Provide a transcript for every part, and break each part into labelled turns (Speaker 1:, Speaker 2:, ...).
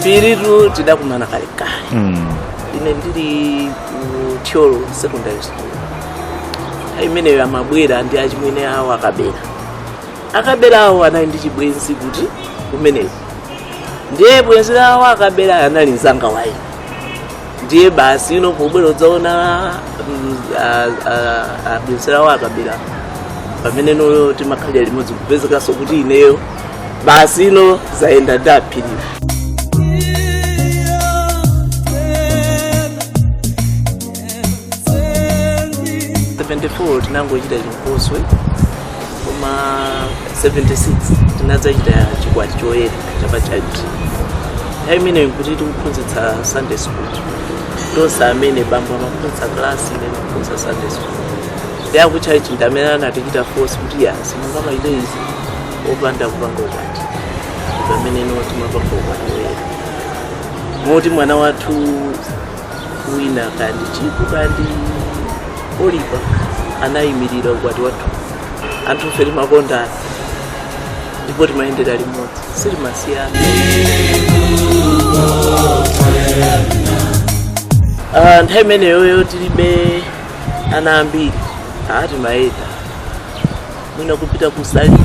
Speaker 1: phiritu tidakumana kalekale ine ndili ku thyolo secondary school nthawi imeneyo amabwera ndi achimwene awo akabera akabera awo anali ndi chibwenzi kuti kumeneko ndiye bwenzi lawo akabera anali mzanga wa ine ndiye basi ino pobwera kudzaona mm, a- a- a- bwenzi lawo akabera pamene no timakhalira limodzi kupezekanso kuti ineyo basi ino zayenda ndi a phiriwo 74 tinangochita chinkoswe koma 76 tinadzachita chikwati choyera cha pa church nthawi imeneyo nkuti tikuphunzitsa sunday school tonse amene bambo amaphunzitsa klasi ine ndikuphunzitsa sunday school ndiye a ku church ndi amene anatichita force kuti ya simungamachite izi opanda kupanga ukwati ndi pamene no timapanga ukwati woyera moti mwana wathu wina kaya ndi chiku kaya ndi oliva anayimirira ukwati wathu anthu ife timakondana ndipo timayendera limodzi sitimasiyana Ah, nthawi imeneyoyo tilibe ana ambiri aa timayenda mwina kupita kusalima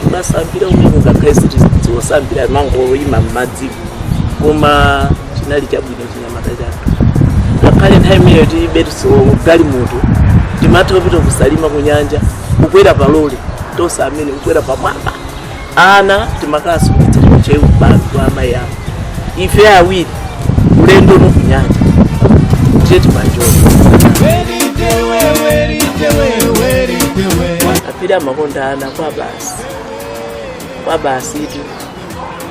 Speaker 1: kumasambira kumeneko ngakhale sitidziwa kusambira kumangoyima m'madzimo koma chinali chabwino chinyamata chathu ngakhale nthawi imeneyo tilibe galimoto timatha kupita kusalima kunyanja kukwera palole tonse amene kukwera pamwamba ana timakasiya ku ntcheu ku bawi kwa amayi awo ife awiri ulendo wa kunyanja ndiye timanjoya a phiri amakonda ana kwabasi kwabasitu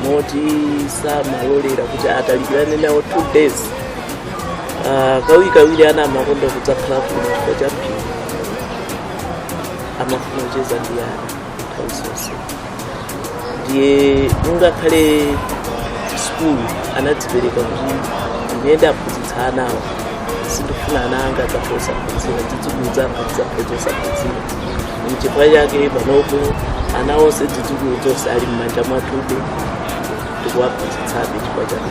Speaker 1: moti samalolera kuti atalikirane nawo two days Ah, kawiri kawiri ana amakonda kudzakhala kuno chifukwa cha phiri amafuna kucheza ndi ana nthawi zonse ndiye ngakhale sukulu anadzipereka kuti ine ndiwaphunzitsa ana awa sindifuna ana anga adzakhale osaphunzira dzidzukulu zanga zidzakhale zosaphunzira mchifukwa chake panopo ana onse dzidzukulu zonse ali m'manja mwathu tikuwaphunzitsabe chifukwa chake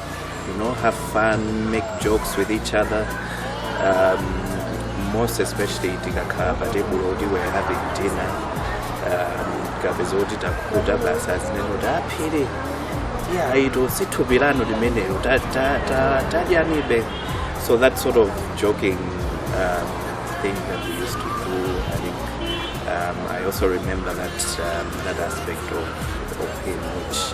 Speaker 1: You know, have fun, make jokes with each other. Um, most especially tikakhala pa tebulo kuti we're having dinner. Um, kapeza kuti takuta basa zimene kuti aphiri yeah, ito si thupi lanu limenelo ta- ta- ta- tadyanibe so that sort of joking um, thing that we used to do i think um, i also remember that um, that aspect of, of him which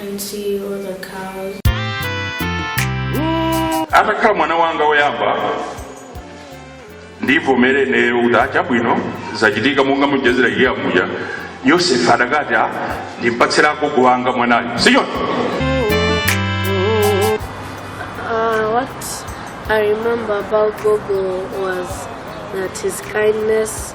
Speaker 2: and
Speaker 3: see all the cows. atakhala mwana wanga woyamba ndivomere ineyo kuti achabwino zachitika monga mwachitira che amuja yosefe adakati "Ah, ndimpatsira agogo wanga mwanayo
Speaker 4: sichoncho Uh, what I remember about Gogo was that his kindness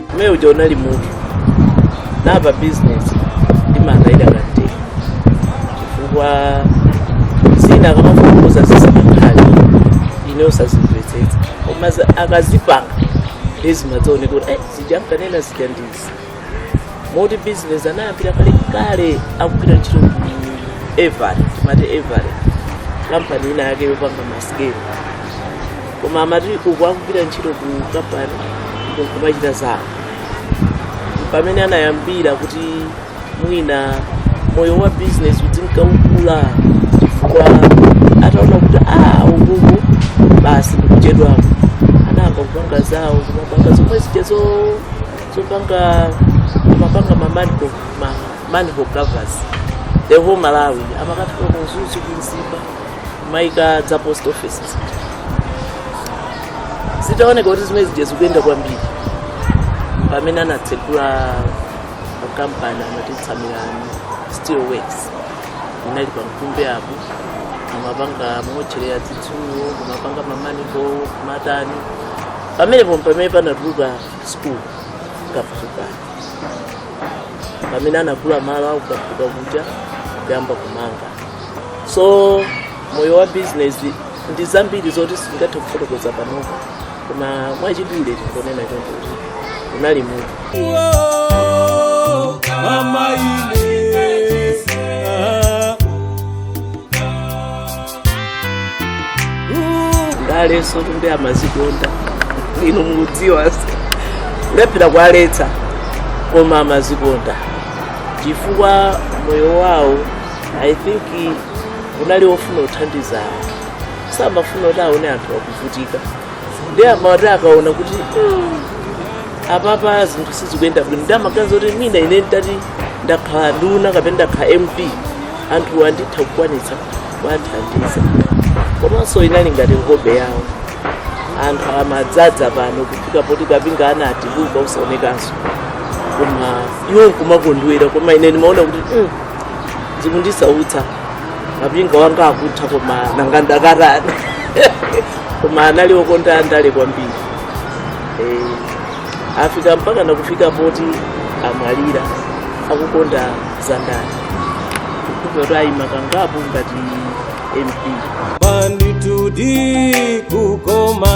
Speaker 5: umene uja unali munthu ndipo business ndimakayika kaye chifukwa zina akamafufuza zimakhala ine osazimvetsetsa koma za- akazipanga nde zimadzaoneka kuti "Eh, zija ankanena zija ndi izi moti business anayambira kale kale akugwira ntchito ku Avery timati Avery kampani ina yake yopanga masikelo koma amati uku akugwira ntchito ku kampani nkumachita zawo pamene anayambira kuti mwina moyo wa business uzinka ukula chifukwa ataona kuti a ukuuku basi ndikuchedwako anayamba kupanga zawo kumapanga zomwe zija zo- zopanga amapanga ma manhole ma manhole covers the whole malawi amakafika ku Mzuzu ku Mzimba kumaika za post offices zitaoneka kuti zimene zija zikuyenda kwambiri pamene anatsegula kampani amati Tsamirani Steel Works inali pa mkumbe apo kumapanga motchereya zitsulo kumapanga ma manhole kumatani pamenepo ndi pamene panatuluka school kafukani pamene anagula malo a ku Kafuka kuja kuyamba kumanga so moyo wa business ndi zambiri zoti sindingathe kufotokoza panopa koma mwachidule ndikunena choncho unali munthu mama ine ah. ndalenso kumbe amazikonda inu mukudziwa kulephera kuwaletsa koma amazikonda chifukwa moyo wawo i think unali wofuna kuthandiza anthu samafuna kuti aone anthu akuvutika ndiye amati akaona kuti "Mm, apapa zinthu sizikuyenda bwino ndiye amaganiza kuti mwina ine nditati ndakhala nduna kapena ndakhala mp anthuwa nditha kukwanitsa kuwathandiza komanso inali ngati hobby yawo anthu amadzadza pano kufika poti kapinga anati kutha osaonekanso koma iwo nkumakondwera koma ine ndimaona kuti "Mm, zikundisautsa kapinga wanga akutha koma nanga ndakarana koma anali okonda ndale kwambiri Eh, afika mpaka nakufika poti amwalira akukonda za ndale moti ayima kangapo ngati mp
Speaker 6: ndithudi kukoma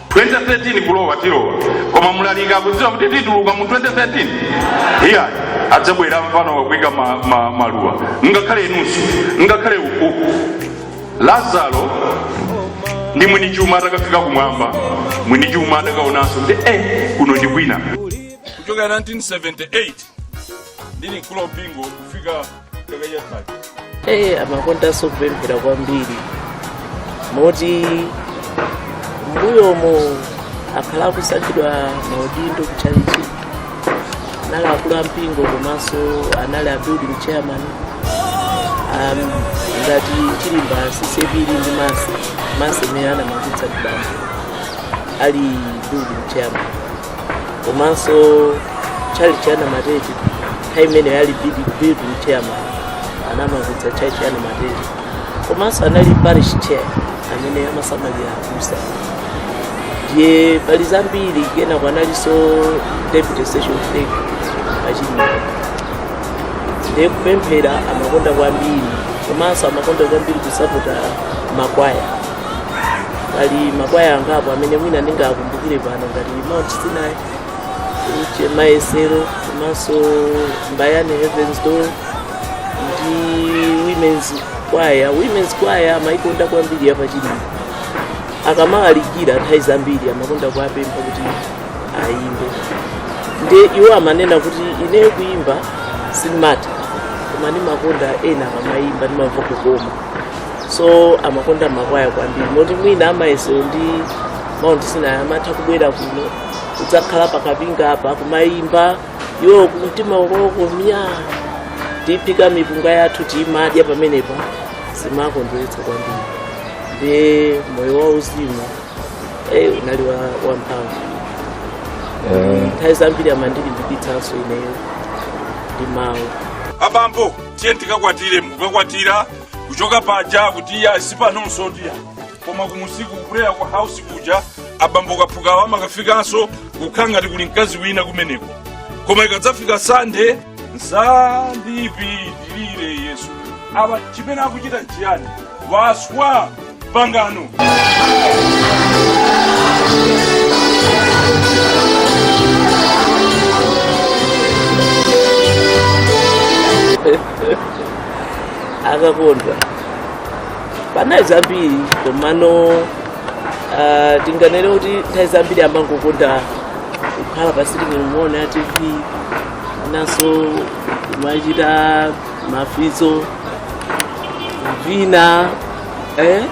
Speaker 3: 2013 kulowa tilowa koma mlaliki kudziwa kuti tituluka mu 2013 iyayi adzabwera mfana wakuika ma, ma, maluwa ngakhale inunso ngakhale uku lazaro ndi mwini chuma atakafika kumwamba mwini chuma atakaonanso kuti eh kuno ndi kwina kuchokera 1978 ndili mkulu wa mpingo kufika Hey, amakondanso
Speaker 7: kupemphera kwambiri moti mbuyomo akhala akusankhidwa maudindo kuchalichi anali akulu a mpingo komanso anali a building chairman um, ngati chilimba ccap ndi masi masi imene anamangitsa kudambo ali building chairman komanso tchalichi cha namatete nthawi imene anali building chairman anamangitsa tchalichi cha namatete komanso anali parish chair amene amasamalira abusa ndiye pali zambiri kenako analinso deputy session clerk pachilimba ndiye kupemphera amakonda kwambiri komanso amakonda kwambiri kusapota makwaya pali makwaya angapo amene mwina ndingakumbukire pano ngati mount sinai che mayesero komanso mbayani heavens door ndi women's kwaya women's kwaya amayikonda kwambiri yapachilimba akamalalikira nthawi zambiri amakonda kuwapempha kuti ayimbe nde iwo amanena kuti ineyo kuyimba sindimatha koma ndimakonda ena akamayimba ndimamva kukoma so amakonda makwaya kwambiri moti mwina amayesero ndi mount sinai amatha kubwera kuno kudzakhala pakapinga apa kumayimba iwo kumtima kwawoko myaa tiphika mipunga yathu timadya pamenepa zimakondweretsa kwambiri ndiye moyo wa uzimu eh, unali wa, wa mphamvu Eh, nthawi zambiri amandilimbikitsanso ineyo ndi mawu abambo
Speaker 3: ndiye tikakwatire mukakwatira kuchoka paja kuti iyayi si panonso tiya koma kumusiku kubwera kwa house kuja abambo kaphukawa amakafikanso kukhala ngati kuli mkazi wina kumeneko koma ikadzafika sande msandipitirire yesu apa chimene akuchita nchiyani waswa pangano
Speaker 7: akakondwa pa nthawi zambiri komano ah, tinganene kuti nthawi zambiri amangokonda kukhala pa sitting room kuona tv nanso kumachita mafizzo kuvina eh?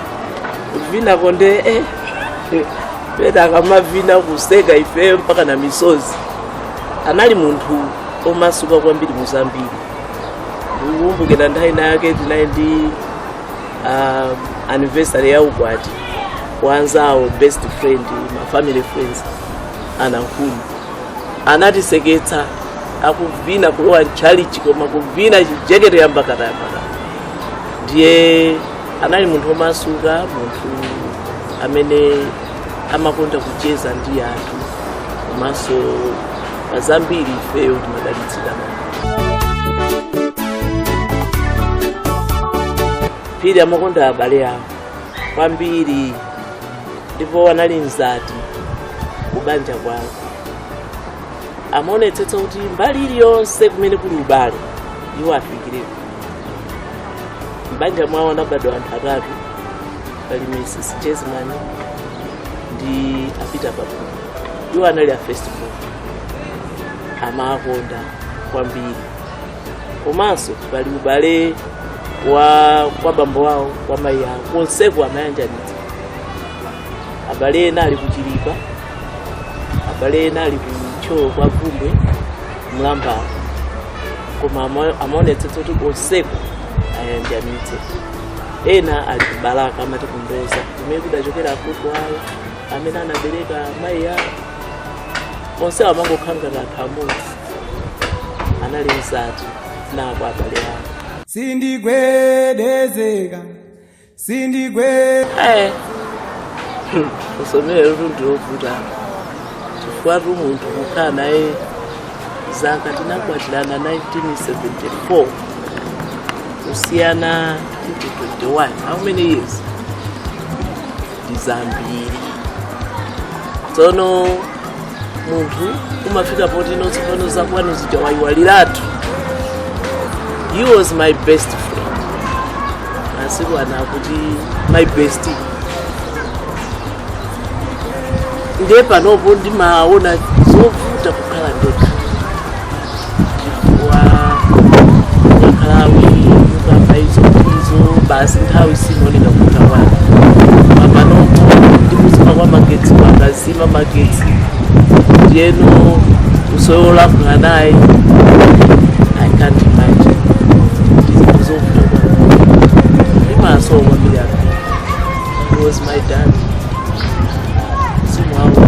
Speaker 7: kuvina konde eh? pena akamavina kuseka ifeyo mpaka na misozi anali munthu omasuka kwambiri muzambiri ndikukumbukira nthawi inayake tinali ndi um, anniversary ya ukwati wa anzawo best friend ma family friends anankhuni anatiseketsa akuvina kulowa mtchalichi koma kuvina chijekete yambakatayambaka ndiye anali munthu omasuka munthu amene amakonda kucheza ndi anthu komanso pa zambiri ifeyo timadalitsika a phiri amakonda abale awo kwambiri ndipo anali mzati kubanja kwawo amaonetsetsa kuti mbali iliyonse kumene kuli ubale iwo afikireko mbanja mwawo anabadwa anthu atatu pali mrs chesman ndi a peter papumu iwo anali a first born amakonda kwambiri komanso pali ubale wa kwa bambo wawo kwa mayi awo konseko amayanjanitsa abale ena ali kuchilipa abale ena ali ku thyolo kwa bvumbwe mlambala koma ama- amaonetsetsa kuti konseko ayanjanitse ena ali ku balaka amati kumboza kumene kudachokera agogo awo amene anabereka mayi awo onse amangokhala ngati anthu amodzi anali mzati nako abale awo sindigwedezeka
Speaker 6: sindigwe Eh. Hmm,
Speaker 7: usomere lundu lovuta chifukwatu munthu kukhala naye zaka tinakwatirana 1974 kusiyana 2021 how many years ndi zambiri tsono munthu umafika poti no tsopano zakwanu zija wayiwaliratu he was my best friend masiku ano akuti my bestie ndiye panopo ndimaona zovuta kukhala ndekha chifukwa ukakhala awiri ukamba izo ndizo basi nthawi simaoneka kutha kwake apanopo ndi kuzima kwa magetsi akazima magetsi ndiyeno usowe olankhula naye i can't imagine ndizinthu zovuta kwambiri ndimamusowa kwambiri aka he was my dad simu awo